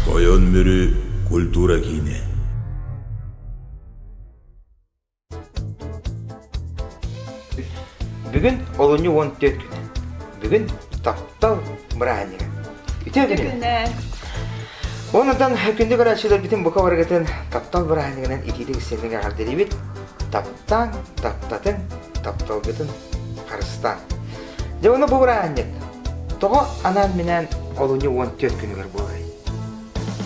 Тойон Мүрү культура киинэ Бүгүн олунньу уон түөрт күн. Бүгүн таптал бырааһынньыга. Үтүө күнүгүн. Онудан күндү көрөөччүлэрбитин бука барыгытын таптал бырааһынньыгынан итиитик истиҥник эҕэрдэлиибит. Таптаҥ, таптатын, тапталгытын Харыстаан. Дьэ ону бубураанньыт. Тоҕо анаан-минээн олунньу уон түөрт күнүгэр буоларый?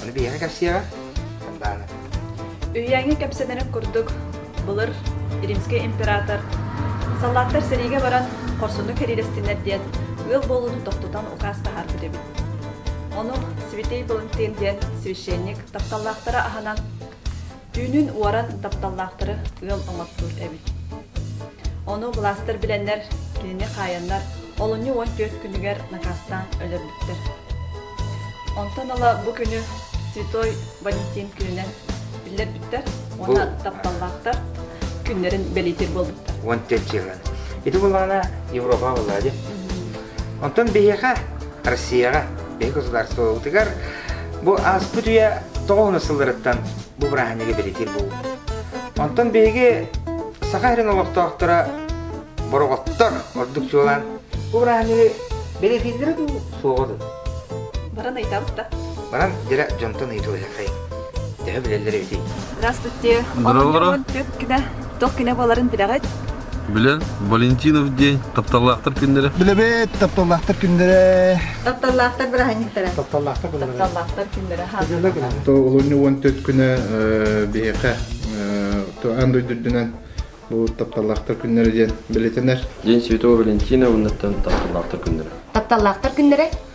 Ону биһиэхэ кэпсиэҕэ. Хандаана. Үһүйээҥҥэ кэпсэнэрин курдук, былыр Римский император саллааттар сэриигэ баран хорсуннук кэриилэстиннэр диэн ыал буолууну тохтутан укаас таһаарбыт эбит. Ону святей Валентин диэн священник тапталлаахтара аһынан Түүнүн уоран тапталлаахтары ыал оҥостуур эбит. Ону былаастар билэннэр, кинини хаайаннар, олунньу уон түөрт күнүгэр накаастаан өлөрбүттэр. Онтон ыла бу күнү Святой Валентин күнүнэн биллэрбиттэр уонна тапталлаахтар күннэрин бэлиэтиир буолбуттар. Уон төрт дьылын. Ити булаана Европа была, де? Онтон биһиэхэ, Россияҕа, биһиги государствобытыгар бу ааспыт үйэ тоҕо уһуна сылларыттан бу бырааһынньыгы бэлэтиир буолбут. Онтон биһиги Саха сирин олохтоохторо бороҕоттор ордук чуолаан бу бырааһынньыгы бэлэтииллэрэ дуу, суоҕа дуу? Баран ыйытабыт Баран дьэ дьонтон ыйытылыһыаххайын. Төһө билэллэр эбитий? Здравствуйте. Здорово. Туох кинэ туох кинэ буоларын билэҕит? Билэн, Валентинов день, тапталлаахтар күннэрэ. Билэбит, тапталлаахтар күннэрэ. Тапталлаахтар быраһынньыктара. Тапталлаахтар күннэрэ. Тапталлаахтар күннэрэ. Тапталлаах күннэрэ. То олунньу уон төрт күнэ биһиэхэ то аан дойдурдунан бу тапталлаахтар күннэрэ диэн билетенер. День Святого Валентина уонна тапталлаахтар күннэрэ. Тапталлаахтар күннэрэ.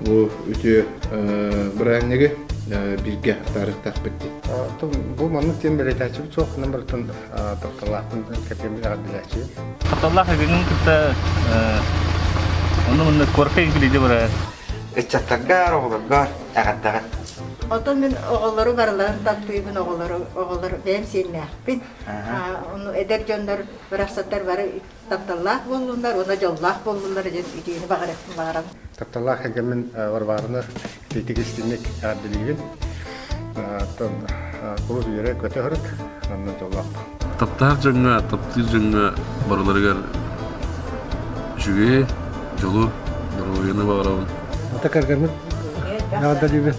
бу үтүө бырайыанньыгы бииргэ атаарыахтаахпыт дии. Бу маннык диэн бэлиэтээччибит суох ханан барытын тапталлаахпын кэтиэн билэҕэр билээччи. Тапталлаах эбигин кытта онно манна куоракка игилиди бара ыччаттаргар, оҕолоргор эҕэрдэҕин. Оттон мин оҕолору барыларын таптыыбын оҕолору оҕолор бэйэм сиэннээхпин. Ону эдэр дьоннор барахсаттар бары тапталлаах буоллулар уонна дьоллоох буоллулар диэн үтүөнү баҕаран тапталлаах эгэмин Варвараны ититик истинник эҕэрдэлиибин кулу үйэрэ көтө һырык оннун дьоллоох таптаах дьоҥҥо таптыыр дьоҥҥо барыларыгар үчүгэй дьолу доруобуйаны баҕарабын ата каргармын эҕэрдэлиибин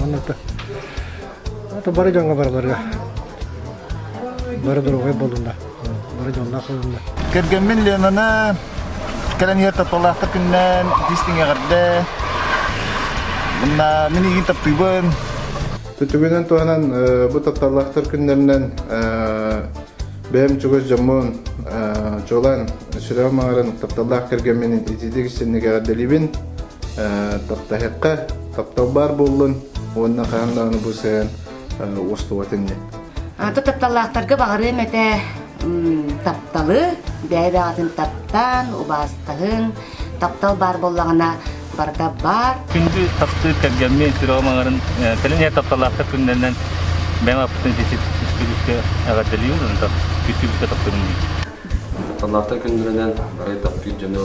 оннута бары дьоҥҥо барыларга бары доруобай буолунна бары дьонноох буолунна кэргэммин Ленаны кэлэн иһэр тапталлаахтар күннээн истиҥ эҕэрдэ мына мин игин таптыыбын түтүгүнэн туһанан бу тапталлаахтар күннэринэн бэйэм чугас дьоммун чуолаан сүрэҕим аҥарын тапталлаах кэргэммин итиитик истинник эҕэрдэлиибин Таптаһыахха, таптал баар буоллун уонна хаһан даҕаны бу сыһыан устубат инньэ. Аты тапталлаахтарга баҕарыам этэ тапталы, бэйэ-бэҕэтин таптаан, убаастаһын, таптал баар буоллаҕына барда баар. Күндү таптыыр кэргэммин, сүрэҕим кэлин ер тапталлаахтар күннэринэн бэйэм аппытын үстүбүскэ эҕэрдэлиим, бүтүбүскэ таптыырым диин. Тапталлаахтар күннэринэн барай таптыыр дьону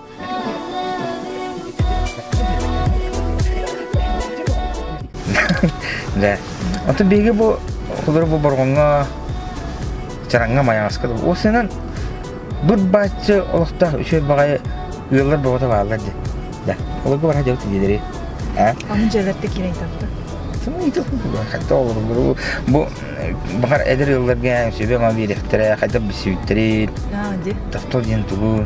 Дьэ, отут биһиги бу холур бу боргоҥҥо чараҥҥа майаҥаска ол сынан быт-баччы олохтоох үчүгэй баҕайы ыаллар боҕото бааллар дии. Да, олорго бара дьабыт диэдери. ඈ? Аны дьэлэрте кирей табыта. Сымыйды хайда олорбуру бу баҕар эдэр ыалларга сөбө ма биэрэхтэрэ хайдах билсибиттэрин. Аа, ди. Тохтол диэн тугу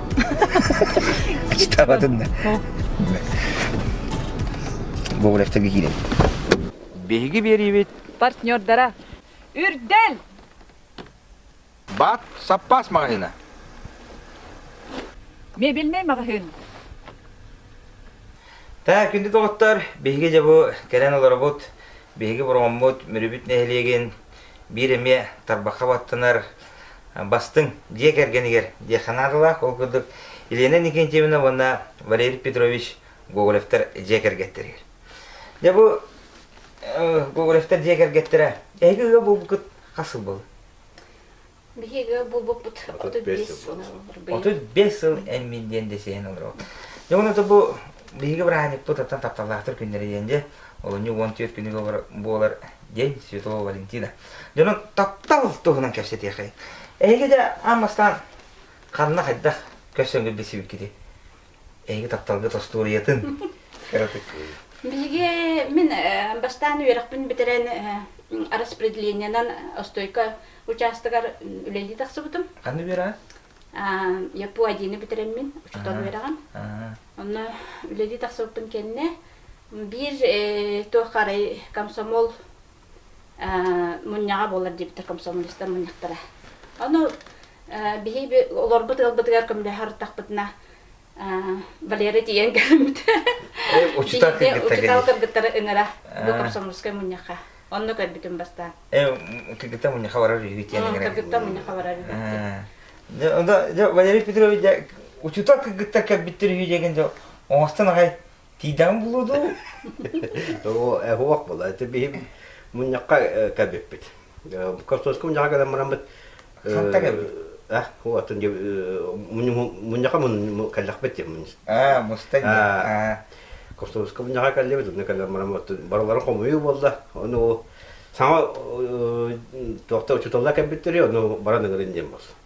Кичтаабатын да. Бобулевтарга киирэн. Биһиги биэриибит партнердара Үрдэл Бат Саппаас магазина. мебельный магазин Та күндү доҕоттор, биһиги дьэ бу кэлэн олоробут, биһиги бороммут, мүрүбүт нэһилиэгин биир эмиэ тарбахха баттанар Бастыҥ дьиэ кэргэнигэр диэххэ наадалаах, ол курдук Елена Никентьевна уонна Валерий Петрович Гоголевтар дьиэ кэргэттэригэр. Дьэ бу Гоголевтар дьиэ кэргэттэрэ эһиги ыал буолбуккут хас сыл буолла? Биһиги ыал буолбуппут отут биэс сыл отут биэс сыл эммин диэн дэсиэһин олоробут. Дьэ уонна бу биһиги бырааһынньыкпыт оттон тапталлаахтар күннэрэ диэн дьэ олунньу уон түөрт күнүгэ буолар диэн Святого Валентина. Дьону таптал туһунан кэпсэтиэхэй. Эһиги да аммастан ханна хайдах көрсөҥгө билсибиккитий? Эһиги тапталга тостуориятын кыратык. Биһиги мин бастаан үөрэхпин бүтэрэн распределениенан остойко учаастагар үлэлии тахсыбытым. Ханна үөрэҕин? Япуа диэни бүтэрэммин учуутал үөрэҕин. Онно үлэлии тахсыбыппын кэннэ Биир туохха арай комсомол мунньаҕа буолар диэбиттэр комсомолистар мунньахтара. Ону биһиги олорбут ыалбытыгар көмөлөһөр аттахпытына Валера тиийэн кэлбитэ. Учутал кыргыттары ыҥыра бу комсомольскай мунньахха. Онно көрбүтүм бастаан. Кыргыттар мунньахха барар үһүбүт. Кыргыттар мунньахха барар үһүбүт. Валерий Петрович учутал кыргыттар кэлбиттэр үһү диэн оҥостон аҕай Тиидэҕин булуо дуу? Оһуох була. Ити биһим мунньахха кэбиппит. Костовскай мунньахха кэлэн бараммыт. Ханта кэбит? А, вот, мунньахха кэллэхпит тим мунньах. Аа, мустан. Аа. Костовскай мунньахха кэллибит, онно кэлэн бараммыт. Барыларын хомуйуу буолла. Ону саҥа туохта учуталла кэбиттири, ону баран ыгырын диэн болсун.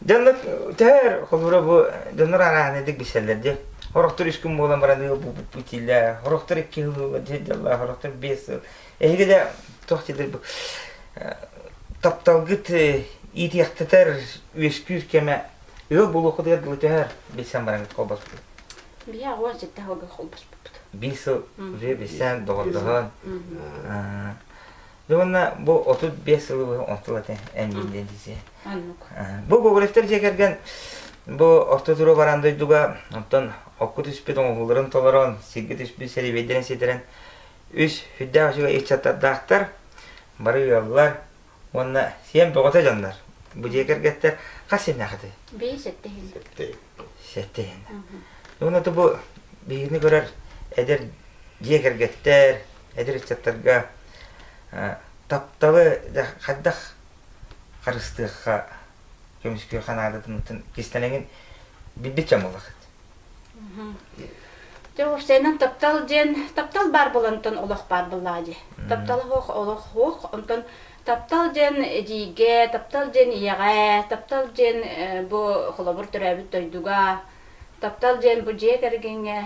Дьоннор төһөр холбура бу дьоннор араанедик билсэллэр дии. Орохтор үс күн буолан баран ыал бууппут итиилэ. Орохтор икки сыл дьалла, орохтор биэс сыл. Эһиги да туох дидир бу тапталгыт иитиэхтэтэр үөскүүр кэмэ ыал булуохутугар дылы төһөр билсэн баран холбоспут. Биһи агуан ситте халга холбоспут. Биир сыл уже билсэн доҕордоһон Ну уонна бу отут биэс сылы быһа онто сыл этэ энниллин дии. Бу Гоголевтер дьиэ кэргэн бу орто туруа баран дойдуга оттон окку түспүт оҥоһууларын толорон сиргэ түспүт сэриибэйдэрин ситэрэн үс хүддээх үчүгэй ыччаттардаахтар бары ыаллар уонна сиэн бөҕөтө дьоннор бу дьиэ кэргэттэр хас сиэннээхитэ бии сэттэһин сэттэһин уонна бу биһигини көрөр эдэр дьиэ кэргэттэр эдэр ыччаттарга тапталы хайдах харыстыахха көмүскүөххэ наадатын кистэнэҥин билбит чамылахыт Дьоҕурсайынан таптал диэн таптал баар болонтон олох баар быллаа дии. Таптал оһох олох хоох, онтон таптал диэн эдьиийгэ, таптал диэн ийэҕэ, таптал диэн бу холобур төрөөбүт дойдуга, Таптал диэн бу дьиэ кэргэҥҥэ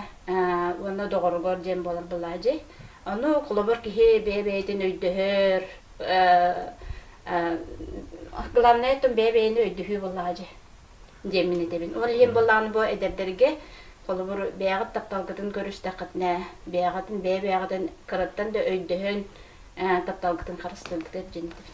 уонна доҕоругар диэн буолар былаадьый. Ону холобур киһи бэйэ-бэйэтин өйдөһөр. Главное оттон бэйэ-бэйэни өйдөһүү былаадьы диэн мин этэбин. Ол иһин былааны бу эдэрдэргэ холобур бэйэҕит тапталгытын көрүстэххитинэ, бэйэҕитин бэйэ-бэйэҕитин кыраттан да өйдөһөн тапталгытын харыстыыргытыгар дьин этэбин.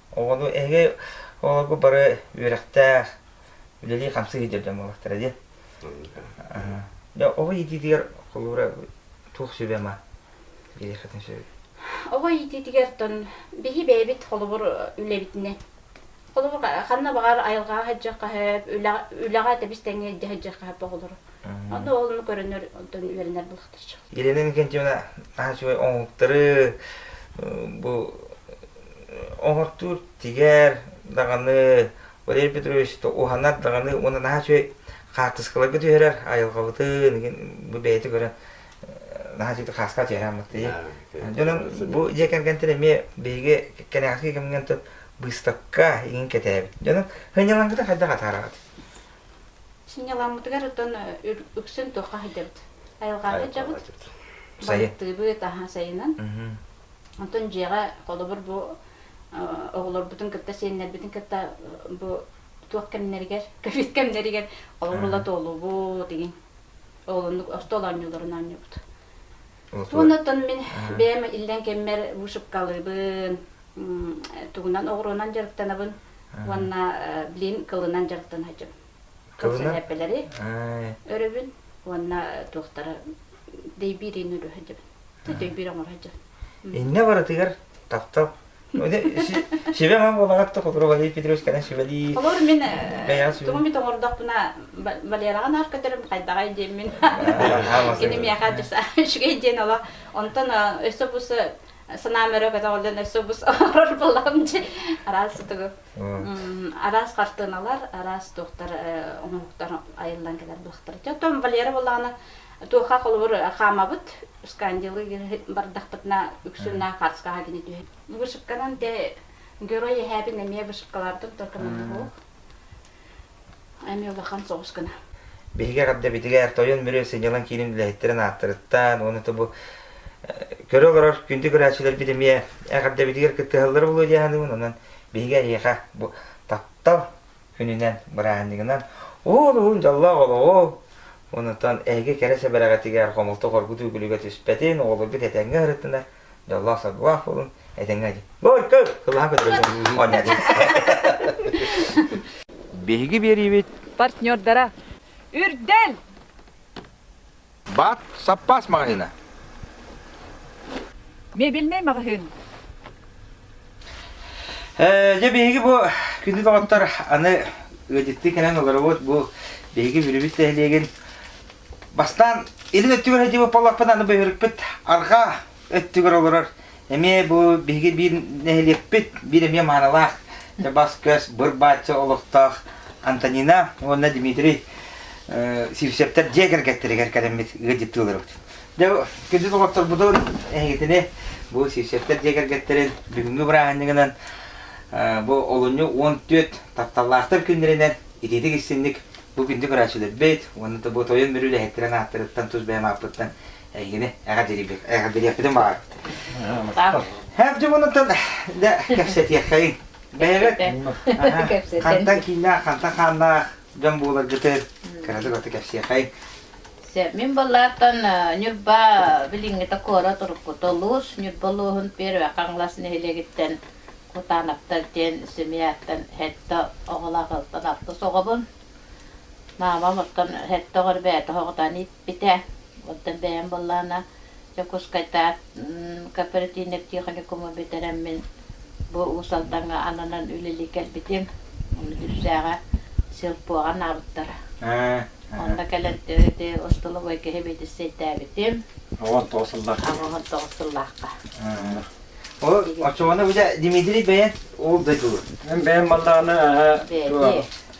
Оҕону эһиги оҕолорго бары үөрэхтээх, үлэлии-хамсыы сылдьар дьон буолахтара дии. Дьэ, оҕо иитиитигэр холуура туох сүбэ-ама биэриэххитин сөбүй? Оҕо иитиитигэр-тон биһи бэйэбит холобур үлэбитинэн холобур ханна баҕар айылҕаҕа сылдьар хаһыат үлэҕэ тэбис тэҥҥэ илдьэ сылдьар хаһыат оҕолору онно оҕолору көрөнөр онтон үөрэнэр Елена Иннокентьевна наһаа үчүгэй оҥоһуктары бу оҥортуур тигэр даҕаны Валерий Петрович уһанар даҕаны уонна наһаа үчүгэй хаартыскаларга түһэрэр айылҕабытын бу бэйэтэ көрөн наһаа үчүгэй хааска түһэрэ хаммыттыы. Дьонум бу дьиэ кэргэнтэн эмиэ биһиги кэнэҕэски кэмҥэ быыстапка игин кэтээбит. Дьонум, хынньалаҥгыта хайдах атаараҕыт? Сынньалааммытыгар оттон үксүн туохха сылдьабыт? Айылҕаҕа сылдьабыт. Байыттыыбыт, аһа сайынын. Оттон дьиэҕэ холобур бу оҕолорбутун кытта сиэннэрбитин кытта бу туох кэмнэригэр, ковид кэмнэригэр холобур туолуубут, игин оҕолорнук остуол оонньууларын оонньуубут. Туонаттан мин бэйэм иллэҥ кэммэр вышивкалыыбын, тугунан оҕуруонан дьарыктанабын уонна блин кылынан дьарыктан сылдьабын. Кылынан эппэлэри өрөбүн уонна туохтара дэйбиирин өлө сылдьабын. Дөйбиир оҥоро сылдьабын. Иннэ барытыгар таптал Сибэҕэ буолаҕат то, который Валерий Петрович кэлэн сүбэлии. Олор мин тугу эмит оҥордохпуна Валераҕа наар көтөрүм хайдаҕай диэммин. Кини миэхэ үчүгэй диэн олох онтон өссө бу санаам өрө көтөҕүллэн өссө бус орор булам дьи араас сутугу араас картыналар араас туохтар оҥоһуктар айыллан кэлэр буолахтар. Дьэ, Валера булаҕына туоха холобур хаамабыт Скандилы бардахпытына үксүн хаарскаҕа кини түһэр. Вышивканан дьэ герой эһээбин эмиэ вышивкалаартан только монолог эмиэ улахан соҕус гына. Биһиги эҕэрдэбитигэр тойон бүрү сынньалаҥ киинин үлэһиттэрин ааттарыттан уонна тобу көрө олорор күндү көрөөччүлэрбит эмиэ эҕэрдэбитигэр кыттыһаллары булуо дьааһыныбын онон биһиги эһиэхэ бу таптал күнүнэн, бырааһынньыгынан уун-уһун дьоллоох олоҕу Онутан эһиги кэрэ сэбэрэҕитигэр хомолтоҕор оргутуу күлүгэ түспэтин, оҕолорбут этэҥҥэ ырыттынар, дьоллоох-соргулаах буолун, этэҥҥэ дьин. Бой, көр! Кылаһан көтөрөллөр. Оонньоодун. Биһиги биэриибит партнердара, Үрдэл! Баат, саппаас маҕаһыына. Мебельнэй маҕаһыын. Э, дьэ биһиги бу күндү доҕоттор аны ыадьыттыы кэлэн олоробут бу биһиги бүрүбүт нэһилиэгин бастаан илин өттүгэр сылдьыбыт боллохпун аны бөһүрүкпүт арҕаа өттүгэр олорор эмиэ бу биһиги биир нэһилиэкпит биир эмиэ маанылаах бас-көс быр-баачча олохтоох Антонина уонна Дмитрий Сивцевтэр дьиэ кэргэттэригэр кэлэммит ыалдьыттыыларыбыт. Дэ күндүт олохторбутун эһигитини бу Сивцевтэр дьиэ кэргэттэрин бүгүҥҥү бырааһынньыгынан бу олунньу уон түөрт тапталлаахтар күннэринэн итиитик истинник бу күндү көрөөччүлэрбит уонна бу тойон мүрү үлэһиттэрин ааттарыттан тус бэйэм ааппыттан Эйигини эҕэ дирибир. Эҕэ дириэкпитин баҕар. Хабдьы мунутун да кэпсэтиэххэйин. Бэйэбит хантан кииннээх, хантан хааннаах дьон буоларгытын кыратык оту кэпсиэхэй. Мин балаартан Ньурба билиҥҥитэ куорат уруккута улуус Ньурба улууһун Первый Хаҥалас нэһилиэгиттэн Кутанаптар диэн семьяттан сэттэ оҕолоох ыалтан алтыс оҕобун. Маамам оттон сэттэ оҕор бэйэтэ оҕотон Ити оттон бэйэм былаана Дьокуускайтаат кооперативнай техникуму бүтэрэммин бу Уус Алдаҥҥа ананан үлэлии кэлбитим. Дүпсээҕэ силпуоҕа анаабыттара. Онно кэлэн ити остолобуой киһи биэтиссэйдээбитим. Оҕон тоҕус сыллаахха. Оҕон тоҕус сыллаахха. Ол оччоҕуна бу Дмитрий бэйэн ол дойдулар. Мен бэйэм баллааны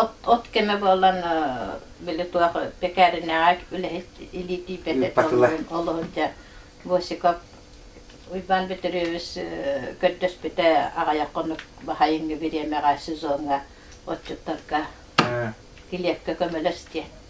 От от кэмэ буолан били туох пекаренэҕэ үлэһит илиитийбэтэ толлуйан олоһунча Босиков Уйбаан Бүтүрүөбүс көрдөспүтэ аҕыйах хонук баһайыҥҥы бириэмэҕэ сезоҥҥа отчуттарга килиэпкэ көмөлөс диэн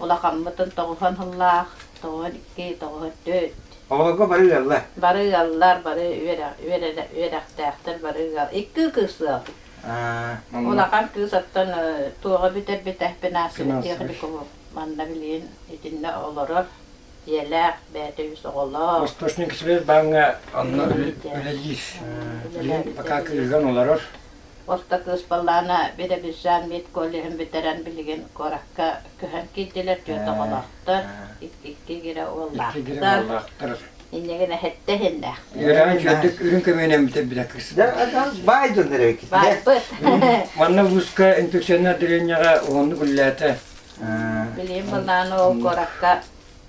улахаммытын тоҕуһан һыллаах, тоҕуһан икки, тоҕуһан төрт. Оҕолорго бары ыаллар. Бары ыаллар, бары үөрэх-үөрэхтээхтэр бары ыал. Икки кыыс ыал. Улахан кыыс оттон туоҕа бүтэрбитэхпинэ Светлих-Ликову манна билигин итиннэ олорор ийэлээх, бэйэтэ үс оҕолоох. Восточник Свербаҥҥа онно үлэлиир. Билигин пока кыыһыран олорор. Орто кыыспаллаана Биробиджан медколлеһын бүтэрэн билигин куоракка көһөн киирдилэр, түөрт оҕолоохтор, икки игирэ уоллаахтар. Иннигин эһэттэ иһиннээхпин. Игирэҕин чөрдүк үрүн көмөнөн бүтэрбитэ кыыс. Байдын эрэбикит. Байбыт. Манна вузка инфекционный отделенияҕа уһуннук үллээтэ. Билим былаан ол куоракка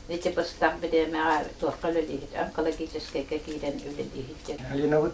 ити быстах бириэмэҕэ туохха үлэлииһит, онкологическайга киирэн үлэлииһит. Алинабыт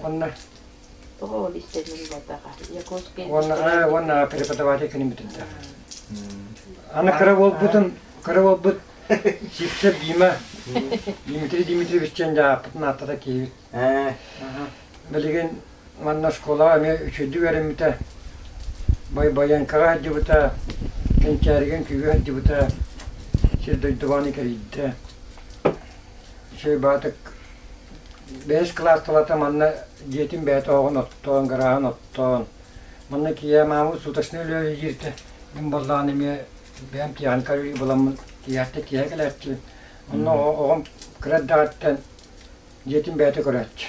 Уонна Тоҕо ол истэрин булбатаха? Якутские уонна э, уонна преподаватель күнүн бүтүнтэ. Аны кыра буолбутун кыра буолбут Сипсер Дима Дмитрий Дмитриевич дьон дьааппытын ааттата киһибит. Билигин манна школаҕа эмиэ үчүйдүк үөрэммитэ. Байбаянкаҕа сылдьыбыта, Кэнчээригин күүгэ сылдьыбыта, сир дойдубааны кэрийдэ. Чыйбаатык бэһис кылаас тулата манна дьиэтин бэйэтэ оҕоҕун оттоон, гарааһын оттоон, манна тиийэ маамы суточнай үлэҕэ иһдииртэ. Мин буоллаҕына эмиэ бэйэм тиэхиньикэ үлэлии буоламмын тиийээхтэ тиэһэ кэлээччи. Онно оҕом кыра эрдэҕиттэн дьиэтин бэйэтэ көрөөччү.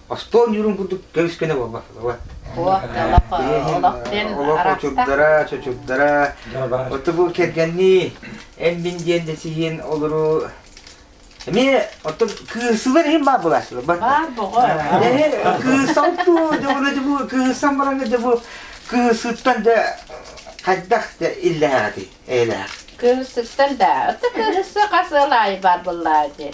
Остуол ньуурун курдук көмүскэнэ буолбат. От, олох, олох диэн Олох очурдара, чочурдара. Оту бу кэргэннии, эммин диэн да сиһин олору Эмиэ оттон кыысылар иһин баар былаачылар. Баар боҕо. Кыысан туу, дьоҕуна дьэ бу кыысан бараҥа дьэ бу кыысыттан да хайдах да иллээҕи эйэлээх. Кыыссыттан да, оту кыыссы хас ыл аайы баар буллаа дии.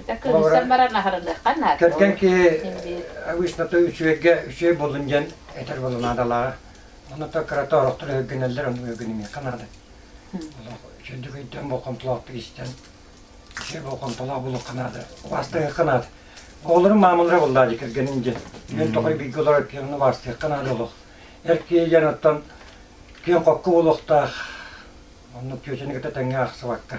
Итэ кырыысан баран аһарыныахха наада. Кэргэн киһи обычно то үчүгэйгэ үчүгэй болун диэн этэр буолу наадалааҕа. Ону то кырата орохтор өггөнөллөр, ону өггөнүмиэххэ наада. Чөндүк өйдөөн болхомтолоохтук истэн, үчүгэй болхомтолоох булуохха наада. Бастыахха наада. Оҕолорум маамалара буллаа дии кэргэнин диэн. Күн тоқой бииргэ олорор киһини убаарсыахха наада олох. Эр киһилэр оттон киэн хокку булуохтаах. Оннук күөчэни кытта тэҥҥэ ахсыбакка.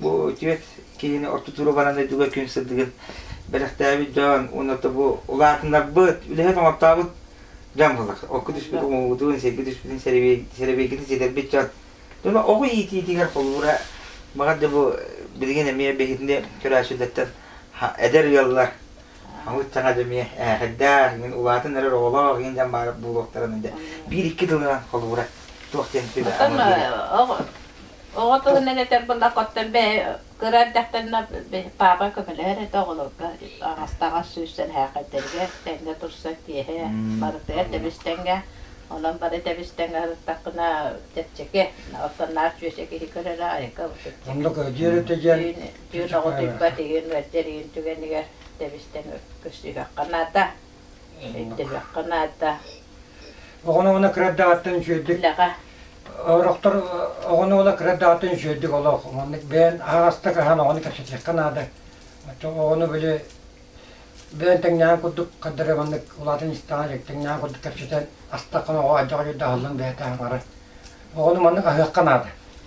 Бу отец киһини орто туруганан дойдуга күн сырдыгын бэлэхтээбит дьон уонна тобу улаатыннарбыт, үлэһит оҥортообут дьон буолар. Окко түспүт умуубутун, сиргэ түспүтүн сэрэбиэйгитин ситэрбит дьон. Дьоно оҕо иитиитигэр холбуура баҕар да бу билигин эмиэ биһигини көрөөччүлэртэн эдэр ыаллар хамыт саҥа дьэмиэ ээхэрдээх иҥин улаатан эрэр оҕолоох иҥин дьон баар буолуохтарын биир-икки тылынан холбуура туох диэн сүбэ Оҕо тылынан этэр былахыттан бэйэ кыра эрдэхтэнэ папа көмөлөһөр этэ оҕолорго аҕастаҕас сүүстэн һээкэйдэригэр тэҥҥэ турсан тиэһэ барытыгар тэбистэнгэ онон бары тэбистэнгэ сырыттахпына чэпчэки оттон наар чүөсэ киһи көрөлө айыкка чэпчэки оннук диэн диэн оҕо тыыппат игин мөлтөр игин түгэнигэр тэбистэн көссүһүөххэ наада Эттэбэххэ наада. Оҕону уона кыра даҕаттан үсүөрдүк Үлэҕэ Орохтор оҕону уола кыра даҕаттан үсүөрдүк олох маннык бэйэн аһаҕастык аһаан оҕону кэпсэтиэххэ наада. Отче оҕону били бэйэн тэҥнэһэн курдук хардары маннык улаатан истэҕэ илик тэҥнэһэн курдук кэпсэтэн астаххына оҕо адьаҕа дьүрдэ аһыллан бэйэтэ аһара. Оҕону маннык аһыахха наада.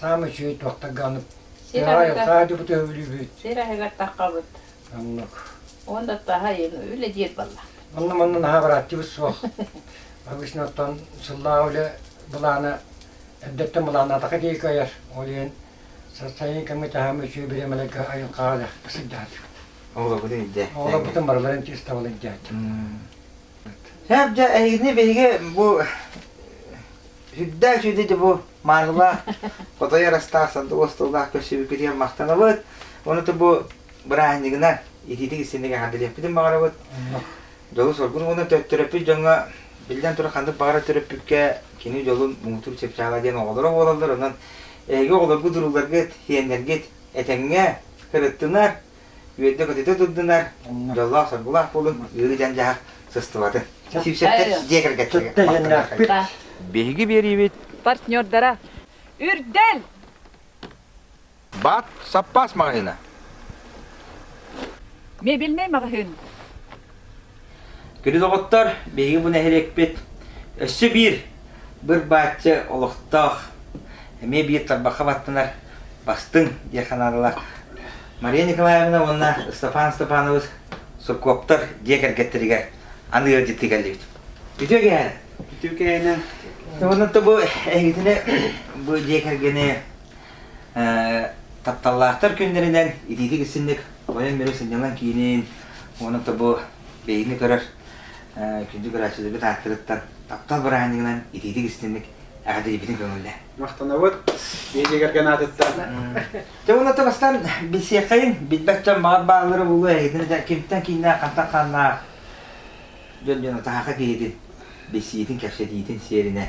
Саамай үчүгэй туохтарга аны Сир аһыгар- хаадьыбыт өһүлүүбүт. Сир аһыгар таххабыт. Оннук. Уон да таһайын үлэ диир балла. Онно манна наһаа бырааттыбыт суох. Обычно оттон сыллааҕы үлэ былаана эрдэттэн былааннаатаха диэки айар. Ол иһин сарсайын кэмҥэ таһаама үчүгэй бириэмэлэргэ айыл хаалар сылдьаат. Оҕобутун ирдэ. Оҕолорбутун барыларын тестабылын дьааччы. Эр дьэ эйигини биһиги бу сүрдээх үчүгэй ити бу маанылаах хотойор астаах сандык остуоллаах көрсүбүккү диэн махтанабыт. Онуту бу бырааһынньыгынан итиитик истинник эҕэрдэлиэппитин баҕарабыт. Дьолу-соргуну уонна төттөрөппүт дьоҥҥо биллэн турар ханнык баҕара төрөппүккэ кини дьолун муҥутуур чыпчаала диэн оҕолоро буолаллар. Онон эһиги оҕолоргут, урууларгыт, сиэннэргит этэҥҥэ, кырыттынар, үөрдэ-көтүтэ турдунар, дьоллоох-соргулаах буолун, үөрүү-дьандьаһар сыстыбатын. Сүүсэптэр дьиэ кэргэттэригэр Биһиги биэриибит партнердара Үрдэл! Баат саппаас маҕаһыына. Мебельнэй маҕаһыын. Күнү доҕоттор, биһиги бу нэһилиэкпит өссө биир быр-бааччы олохтоох, эмиэ биир тарбахха баттанар бастыҥ диэн ханаалалаах Мария Николаевна уонна Степан Степанович Суркоптор дьиэ кэргэттэригэр аны ыалдьыттыы кэллибит. Үтүө кэһэн. Үтүө кэһэнэ. Уонна бу эһигитини бу дьиэ кэргэни Тапталлаахтар күннэринэн итиитик исинник тойон миру сынньалаҥ киинин уонна тобу бэйиҥи көрөр күндү көрөөччүлэрбит ааттарыттан таптал бырааһынньыгынан итиитик истинник эҕэрдэлиибитин көҥүллэ. Махтанабыт медиагерген аатыттан. Дьэ уонна то бастан билсиэххэйин билбэт дьон баҕар бааллары булуо эһитин да кимтэн кииннээх хантан ханнаах дьон дьону таһаха киһитин билсиитин кэпсэтиитин сиэринэн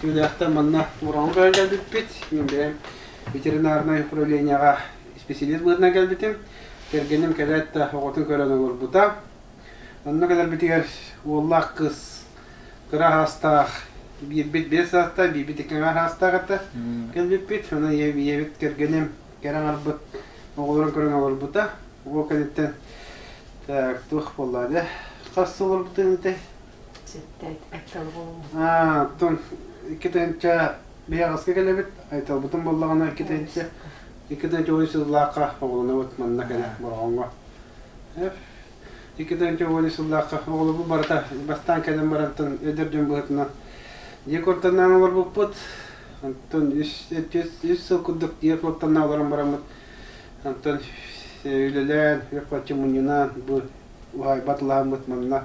Түүлээхтэн манна Муроҥу көрөн кэлбиппит. Мин бэйэм ветеринарнай управлениеҕа исписэлиис быһыытынан кэлбитим. Кэргэним кэлээт да оҕотун көрөн олорбута. Онно кэлэрбитигэр уоллаах кыыс кыра аһаастаах биирбит биэс саастаах, биирбит икки аҥаар аһаастаах этэ. Кэлбиппит, онон ийэбит кэргэним кэрэ аҥарбыт оҕолорун көрөн олорбута. Уол кэнниттэн так, туох буоллаа да хас олорбутун этэй Оттон икки тыһыынча биһаҕаска кэлэбит, айталбытын буллаҕына икки тыһыынча икки тыһыынча уон сыллаахха оҕолонобут манна кэрэ Бороҕоҥҥо. Икки тыһыынча уон сыллаахха оҕолорбут барыта бастаан кэлэн барантан өдөр дьон быһытынан дьиэ куортаннаан олорбуппут. Онтон үс сыл курдук дьиэ куортаннаан олорон бараммыт. Онтон үлэлээн, үп-харчы мунньунан, бу уһаайбат улааммыт манна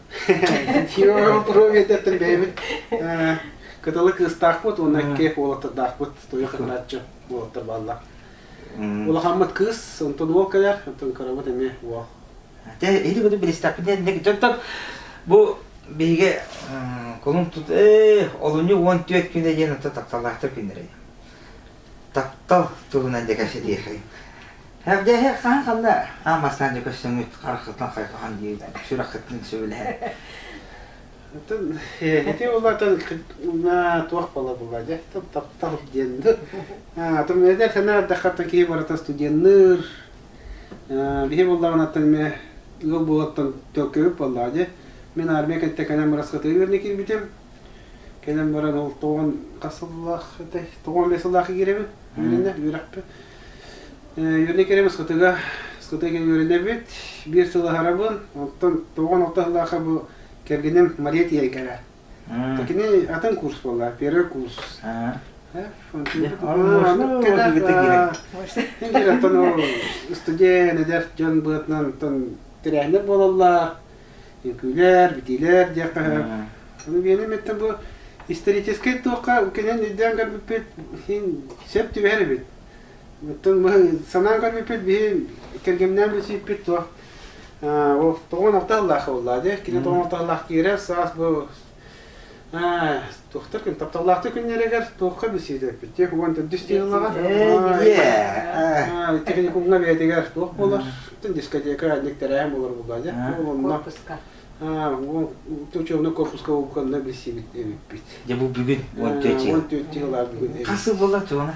Европиятыттан бэйэбит кытылы кыыстаахпыт уонна икки уолаттардаахпыт туйа кытанааччы уолаттар бааллар. Улахаммыт кыыс, онтон уол кэлэр, онтон кырабыт эмиэ уол. Те или буду билистаппыт диэн бу биһиге кулун тут олунню 14 күнэ диэн отто такталаахтар күннэрэ. таптал туһунан дьэ кэпсэтиэхэй. Эбдээһи хаан ханна аамастаан дьэ көссөҥүт хараххытын хайҕахан дии сүрэххитин сөбүлэһэр. Оттон ити улаатан туох бала була дьэ таптал диэн атын эдэр санаардаххаттан киһи баратан студенныр биһи буллаҕынаттан ме ыал буолаттан төлкөбүт боллоо дьэ мен армия кэнтеканан барасхатыырны киирбитим Кэлэн баран ол тоҕон хасыллаах этэй, тоҕон эмиэ сыллаах игирэбин, үөрэнэ, үөрэхпэ. Үөрэнэ кирэбин скытыга, скытыга үөрэнэбит, биир сыл аһарабын, оттон тоҕон алта сыллааха бу кэргэним Мария тиэйгэрэ. Такини атын курс буолла, первый курс. Интеллектон студент эдэр дьон быатынан тан тирээннэр буолаллар, Үҥкүүлэр, битиилэр диэххэ Миэнэ мэттэ бу историческай туохха кэнэн өйдөөн көрбүппүт иһин сөп түбэһэр эбит. Оттон санаан көрбүппүт биһи кэргэмнээн билсиппит туох ол тоҕон алта аллаах буолла де кине тоҕон алта аллаах киирэ саас бу Туохтар күн тапталлаахтыы күннэригэр туохха билсиидэппит? Тиэх уон төрдүс дииллаҕа. Техникумҥа бэйэтигэр туох болар? Бүтүн дискотека аннык тэрээһин болар булаадя. Онно учебный корпуска улканна билсибит эбиппит. Дьэ бу бүгүн 14 жыл. 14 жыл бүгүн. Хас сыл була туона?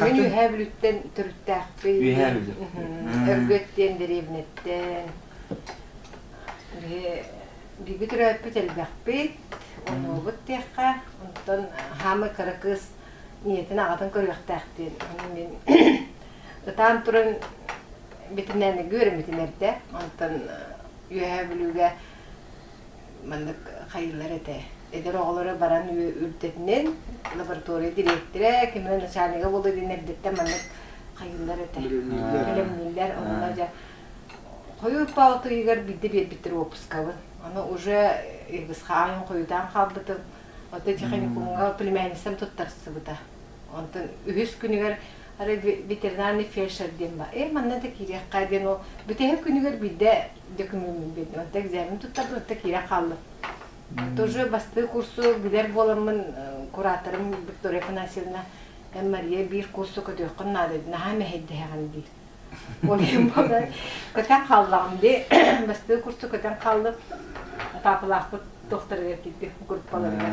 Мин Үөһээ Бүлүттэн төрүттээхпин. Үөһээ Бүлүү. Өргөт диэн дэриэбинэттэн биирбит өрөөппүт элбэхпит, онуубут диэххэ, онтон хаамый кыра кыыс ийэтин аҕатын көрүөхтээхтин. Онон мин ытаан туран битинэн гүөрмитин эрдэ, онтон Үөһээ Бүлүүгэ маннык хайыылар этэ. Эдэр оҕолоро баран үрдэтинэн лаборатория дириэктирэ, кино начальнига буолу диэн эрдэттэн маннык хайыылар этэ. Бэлэмнииллэр. Онно дьэ хойуу тоотуйугар биирдэ биэрбиттэр уоппускабын. Ону уже Иргысхааҥҥын хойутаан хаалбытым. Оттон техникумҥа племянницам туттарсыбыта. Онтон үһүс күнүгэр ветеринарный фельдшер диэн баар. Эй, манна да киириэххэ диэн ол бүтэһик күнүгэр биирдэ документ отто экзамен туттардым отто киирэ хааллым тоже бастыы курсу билэр буоламмын кураторым виктория афанасьевна эн мария биир курсу көтүөххүн наада наһаа мэһэйдэһэҕин дии ойуун буолан көтөн хааллаҕым дии бастыы курсу көтөн хааллым папалаахпыт тохторугар киирдим группаларыгар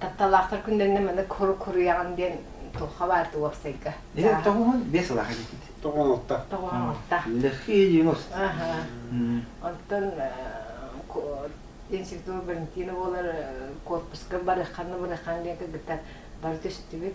Тапталлаахтар күннэринэ маннык хоруйаҕын диэн туохха баар да уопсайга. Эһиэт тоҕуһун биэс ылаах эдикит. Тоҕуон отта. Тоҕуон отта. Лэхие девяносто. Аха. Онтон институт Валентина буолар корпуска барыхханна барыххан диэн кыргыттар бары түстүбүт.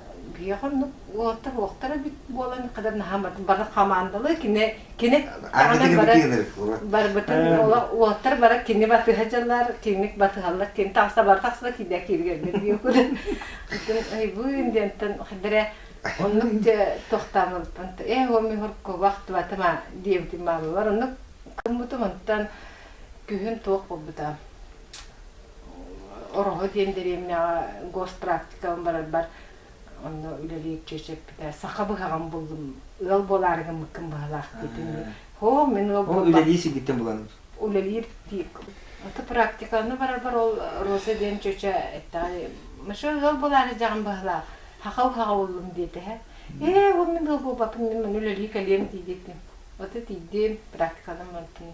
Биһиэхэ оннук уолаттар уохтара эбит буолан кытары наһаа бары хамаандалыы кини кини даҕанан бары барбытын уолаттар бара кини батыһа дьалар киник батыһаллар кини тахса бар тахса киирдэ кииргэргэр диэкулен кытын айбыын диэнтэн хадара оннук тохтаамылтан э оми хорко вахтыватыма диэбитим баалылар оннук кыммытым онтан күһүн туох булбута Ороһу диэн дэриэбинэҕэ госпрактикабын барарбар онно үлэлиир чүөчэппитэ саха быһаҕын буллум ыал буолаарыгын мыккын быһалаах диэтим оо мин ыал Ол үлэлии сиргиттэн булан үлэлиир аты практиканы барарбар ол Роза диэн чүөчэ эттэҕэ мыша ыал буолаары дьаҕам быһалаах хаха уһаҕа буллум диэтэһэ ээ ол мин ыал буолбаппын мин үлэлии кэлиэм дии диэтим аты тиийдим практиканан мантан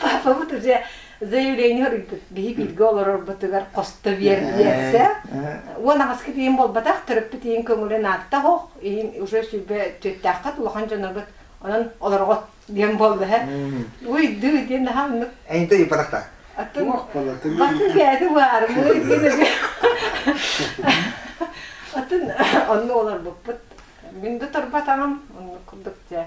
Папабыт уже заявление ыйбыт киһи бииргэ олорорбутугар хосто биэрдиэсэ уон аҕыска тиийин буолбатах төрөппүт иһин көҥүлүн аатта хох иһин уже сүрбэ түөттээххит улахан дьонобут онон олорҕот диэн буолла һэ уйду диэн наһаа оннук эйинте ыйпатахта аттын батын кээти баармыы диэн атын онну олорбуппут мин да турбатаҕым оннук курдук дьэ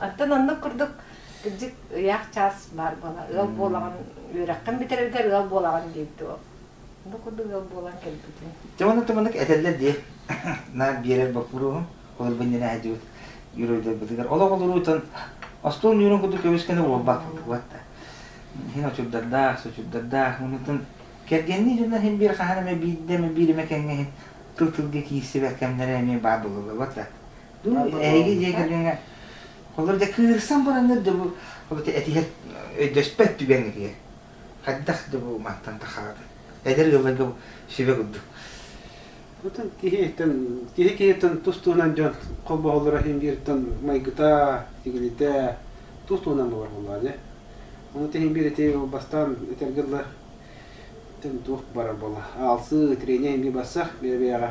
Оттон оннук курдук кырдьык ыйаах чаас баар буолар. Ыал буолаҕын үөрэххин бүтэрэргэр ыал буолаҕын диэбит уол. Бу курдук ыал буолан кэлбитин. Дьэ ону туманнык этэллэр дии. Наар биэрэр боппуруоһум, холобур иннинэ сылдьыбыт юроидербытыгар олох олоруутун остуол ньуурун курдук көмүскэнэ уолбаах курдук да. Иһин очурдардаах, сочурдардаах, муннутун кэргэннии дьоннор иһин биир хаһан эмэ биирдэ эмэ биир эмэ кэҥҥэ иһин тыл тылга киирсибэт кэмнэрэ эмиэ баар буолаллар да. Эһиги легиҥҥэ холор да кыырсан бараҥҥыт да бу этиһэр өйдөспөт түгэҥҥитигэр хайдах да бу мантан тахаҕытый эдэр ыалларга сүбэ курдук киһиттэн киһи киһиттэн тус туһунан дьон холбоһоллоро иһин бииртэн майгыта тигилитэ тус туһунан бабар буоллаҕа дьэ ону иһин биир ити бастаан этэргэ дылы туох барар буола аалсыы трение иһин барса бэйэ бэйэҕэ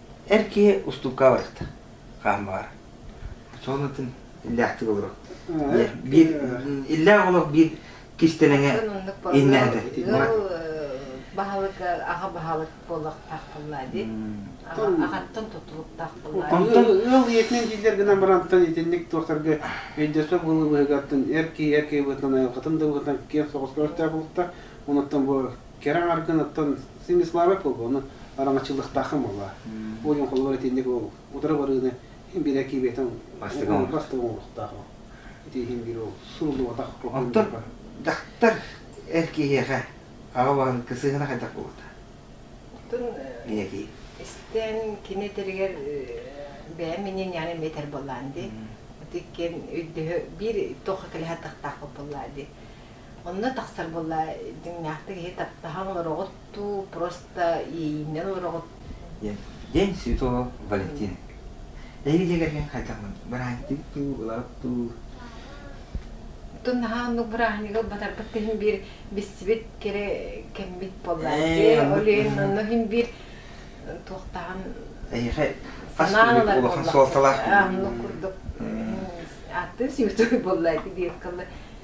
Эр киһи устуукка барыта хаан баҕар. Соҕус атын иллээхтик олорор. Биир иллээх олох биир кистэлэҥэ иннээтэ. Баһылык аҕа баһылык буолуохтаах буолла дии. Аҕаттан тутулуктаах буолла. Онтон ыал ийэтинэн дииллэр гынан барантан итинник туохтарга өйдөсө былы быһыгаттан эр киһи эр киһи быһыытынан айылҕатын да быһыытынан киэн соҕус көрсөөх булукта. Онуттан бу Кэрэ аҥаргыныттан Снислава Пылбону араҥаччылыахтааххын буолла. Ойон холобур итинник ол утары барыыны билэ киибэтин бастыгы оҥоруохтаах ол. Итиигин биир ол суруллубатах Оттон дьахтар эр киһиэхэ аҕаларын кысыһына хайдах буолуота? Оттон истэн кини этэригэр бэйэм иннин яны метр боллаан ди. Итиккен өйдөһө биир тоха кэлэһэ тахтаахпыт боллаа ди. Онно тахсар буолла дьиҥнээхтик киһи таптаһан олороҕут дуу, просто иэйииннэн олороҕут. День святого Валентина. Эһиги дьиэгэргин хайдахмын бырааһынньыктыгыт дуу, ыларыт дуу? Оттон наһаа оннук бырааһынньыгы ылбатарбыт иһин биир бистибит кэрэ кэмбит буолла. Дьэ, ол иһин онно иһин биир туохтаан Эйиэхэ хас киһи улахан суолталаах оннук курдук. Атын святой буолла ити диэт кылла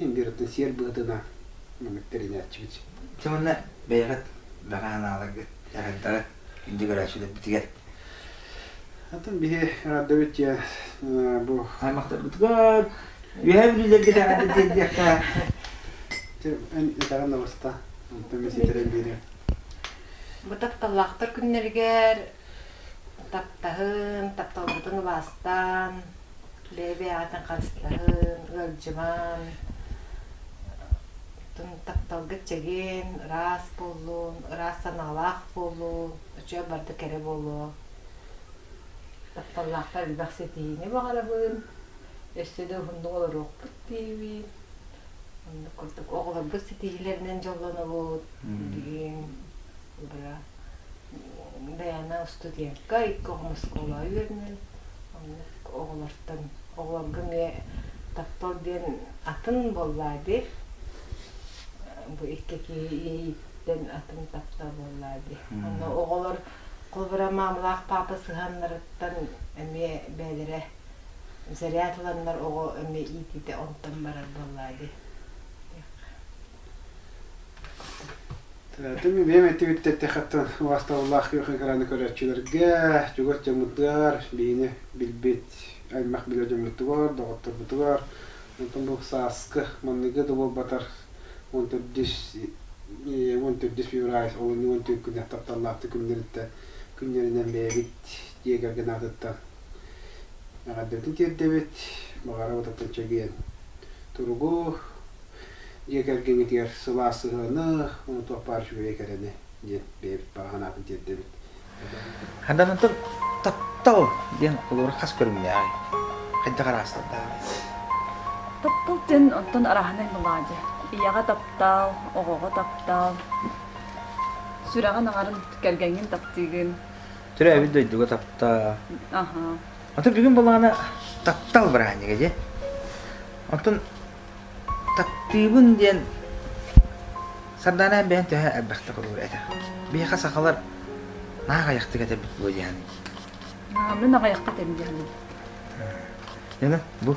Индиратын сиэр быһытынан мөҥүттэринээччибит. Дьэ уонна бэйэҕит бэҕэ анааларгыт, дьаһайдара күндү көрөөччүлэрбитигэр Атын биһи раддабыт дьэ бу аймахтарбытыгар үөһэ бүлүүлэргэ даҕаны диэбиэххэ эн этэҕин да баста онтон месситерэн биэриэм бу тапталлаахтар күннэригэр таптаһын, тапталбытын убаастаан, лэбиэҕэтин харыстаһын, ыалдьыман, тапталга чэгиэн, ыраас буоллун, ыраас санаалаах буоллун, үчүгэй барда кэрэ буолуон. Тапталлаахтар элбэх ситиһиини баҕарабын, өссө да уһуннук олоруохпут диибин. Оннук курдук оҕолорбут ситиһиилэринэн дьоллонобут. Диин, быра. бэйэни устудьуонка икки оҕом оскуола үөрэнэн оннук оҕолортон оҕолорго эмиэ таптал диэн атын буоллаа дии бу икки киһи иэйииттэн атын таптал буоллаа дии онно оҕолор холобура маамылаах паапа сыһыаннарыттан эмиэ бэйэлэрэ заряд ыланнар оҕо эмиэ иитиитэ онтон барар буоллаа дии Тыатын бэйэм этибит этте хаттан убастабыллаах күөх экраны көрөөччүлэргэ, чугас дьоммутугар, биһини билбит аймах билэр дьоммутугар, доҕотторбутугар, онтон бу сааскы манныгы да буолбатар он төрдүс он төрдүс февраль олунньу он түҥкүнэ тапталлаахтык күннэриттэн күннэринэн бэйэбит дьиэ кэргэн аатыттан Эҕэрдэтин тиэрдэбит, баҕарабыт Атынчэгиэн туругу, дьиэ кэргэҥҥитигэр сылаас сыһыаны, ону туохпаар үчүгэйи кэрэни диэн бэйэбит санаатын тиэрдэбит. Ханданантан таптал диэн олору хас көрүҥнээҕий? Хайдах араастардааҕый? Таптал диэн онтон араһынай мелодия. Ийэҕэ таптал, оҕоҕо таптал, сүрэҕин аҥарын, кэргэҥҥин таптыыгын, Төрөөбүт дойдуга таптаа. Атын бүгүн балаҕана таптал быраанига дьэ. Оттон таптыыбын диэн Сардаана бэйэн төһө элбэхтэ холуур этэ. Биһиэхэ сахалар наахайахтык этэбит буо диэн. Мин аҕайахта этим диэн. Нөҥө бу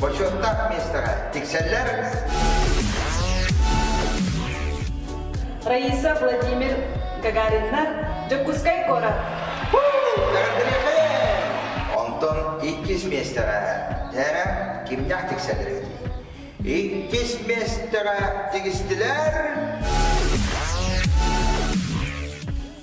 Бочуоттаах миэстэҕэ тиксэллэр. Раиса Владимир Гагариннар, Дьокуускай куорат. Онтон иккис миэстэҕэ Тээрэ кимнээх тиксэллэр Иккис миэстэҕэ тигистилэр.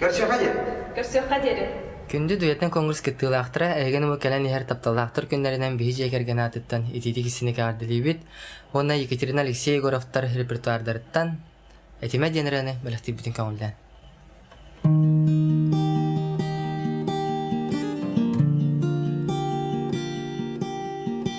Көрсүөххэ диэн. Көрсүөххэ диэри. Күндү дуэтин конгресс кыттыылаахтара эһигини бу кэлэн иһэр тапталлаахтар күннэринэн биһи дьиэ кэргэн аатыттан итиитик истиник эҕэрдэлиибит уонна Екатерина Алексей Егоровтар репертуардарыттан Этимэ диэн ырыаны бэлэхтиирбитин көҥүллээн.